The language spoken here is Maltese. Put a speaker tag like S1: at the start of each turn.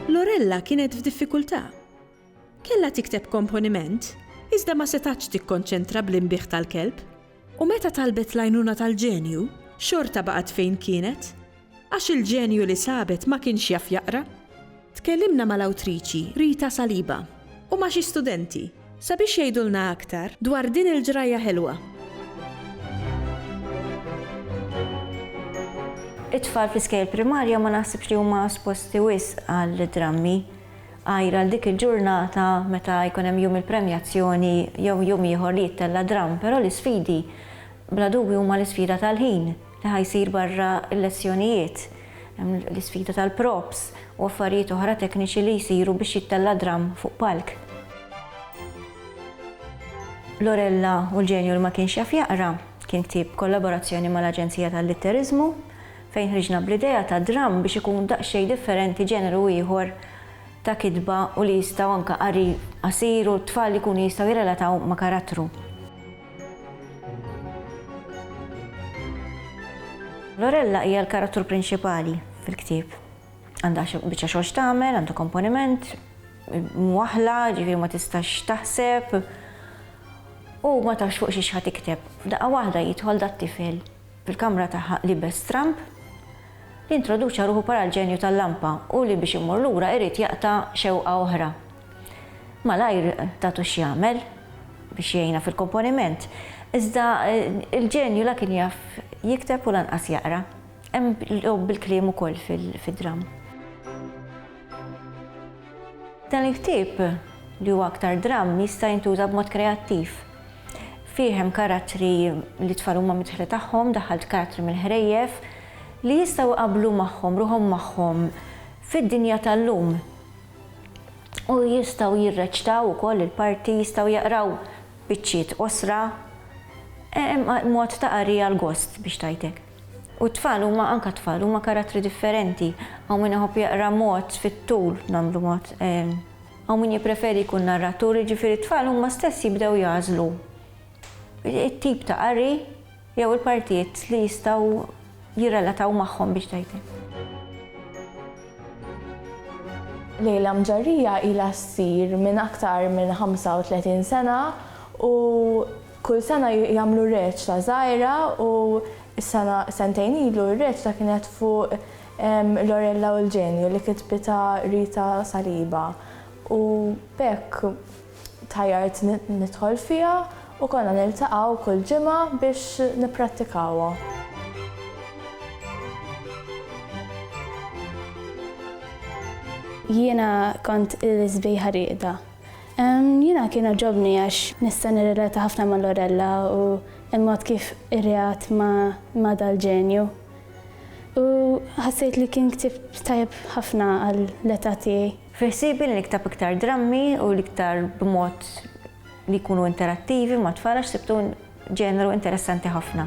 S1: Lorella kienet f'diffikultà. Kellha tikteb komponiment, iżda ma setgħatx tikkonċentra bl-inbigħ tal-kelb U meta talbet l-għajnuna tal-ġenju, xorta baqgħet fejn kienet, għax il-ġenju li sabet ma kienx jaf jaqra. Tkellimna mal-awtriċi Rita Saliba u ma' xi studenti sabiex jgħidulna aktar dwar din il-ġrajja ħelwa. It-tfal fl-iskejjel primarja ma naħsibx li huma esposti wisq għal drammi. Għajr għal dik il-ġurnata meta jkun hemm jum il-premjazzjoni jew jum ieħor li jittella' dramm, però l-isfidi bla dubju huma l-isfida tal-ħin li ħa jsir barra l-lezzjonijiet. Hemm l-isfida tal-props u affarijiet oħra tekniċi li jsiru biex jittella' dramm fuq palk. Lorella u l-ġenju li ma kienx jaf jaqra kien ktieb b'kollaborazzjoni mal-Aġenzija tal-Litteriżmu. fejn ħriġna bl-idea ta' dramm biex ikun daqsxejn differenti ġeneru ieħor ta' kitba u li jistgħu anke qari qasir u t-tfal ikunu jistgħu jirrelataw ma' karattru. Lorella hija l-karattru prinċipali fil-ktieb. Għandha biċċa xogħol x'tagħmel, għandha komponiment, mwaħla, ġifieri ma tistax taħseb u ma tafx fuq xi ħadd tikteb. F'daqqa waħda jidħol dat-tifel Fil-kamra ta' liebes Trump, li introduċa ruħu bħala l-ġenju tal-lampa u li biex immur lura irid jaqta' xewqa oħra. Malajr tatu x'jagħmel biex jgħinha fil-komponiment, iżda l-ġenju la kien jaf jikteb u lanqas jaqra. Hemm logħob bil-kliem ukoll fid-dramm. Dan il-ktieb, li huwa aktar dramm, jista' jintuża b'mod kreattiv. Fih hemm karattri li t-tfal huma midħla tagħhom, daħħalt karattri mill-ħrejjef li jistgħu jqabblu magħhom, ruħhom magħhom fid-dinja tal-lum. U jistgħu jirreċtaw ukoll il-parti, jistgħu jaqraw biċċiet qosra, mod ta' qari għall-gost biex tgħid hekk. U t-tfal huma anke t-tfal huma karattri differenti, hawn min iħobb jaqra mod fit-tul, nagħmlu mod, Hawn min jippreferi jkun narratur, jiġifieri t-tfal huma stess jibdew jagħżlu t-tip ta' qari jew il-partijiet li jistgħu jirrelataw magħhom biex tgħidlek. Lejla Mġarrija ilha ssir minn aktar minn 35 sena u kull sena jagħmlu reċta żgħira u s-sena sentejn ilu r-reċta kienet fuq Lorella u l-Ġenju li kitbitha Rita Saliba u b'hekk tħajjart nidħol fiha u konna niltaqgħu kull ġimgħa biex nipprattikawha. Jiena kont il-sbieħa rieqda. Jiena kien għagħobni għax nista' nirrelata ħafna ma' Lorella u l-mod kif irreat ma' dal-ġenju. U ħassejt li kien ktieb tajjeb ħafna għall-età tiegħi. Fi ħsiebi li nikteb iktar drammi u l-iktar b'mod li jkunu interattivi mat-tfal għax sibtu ġeneru interessanti ħafna.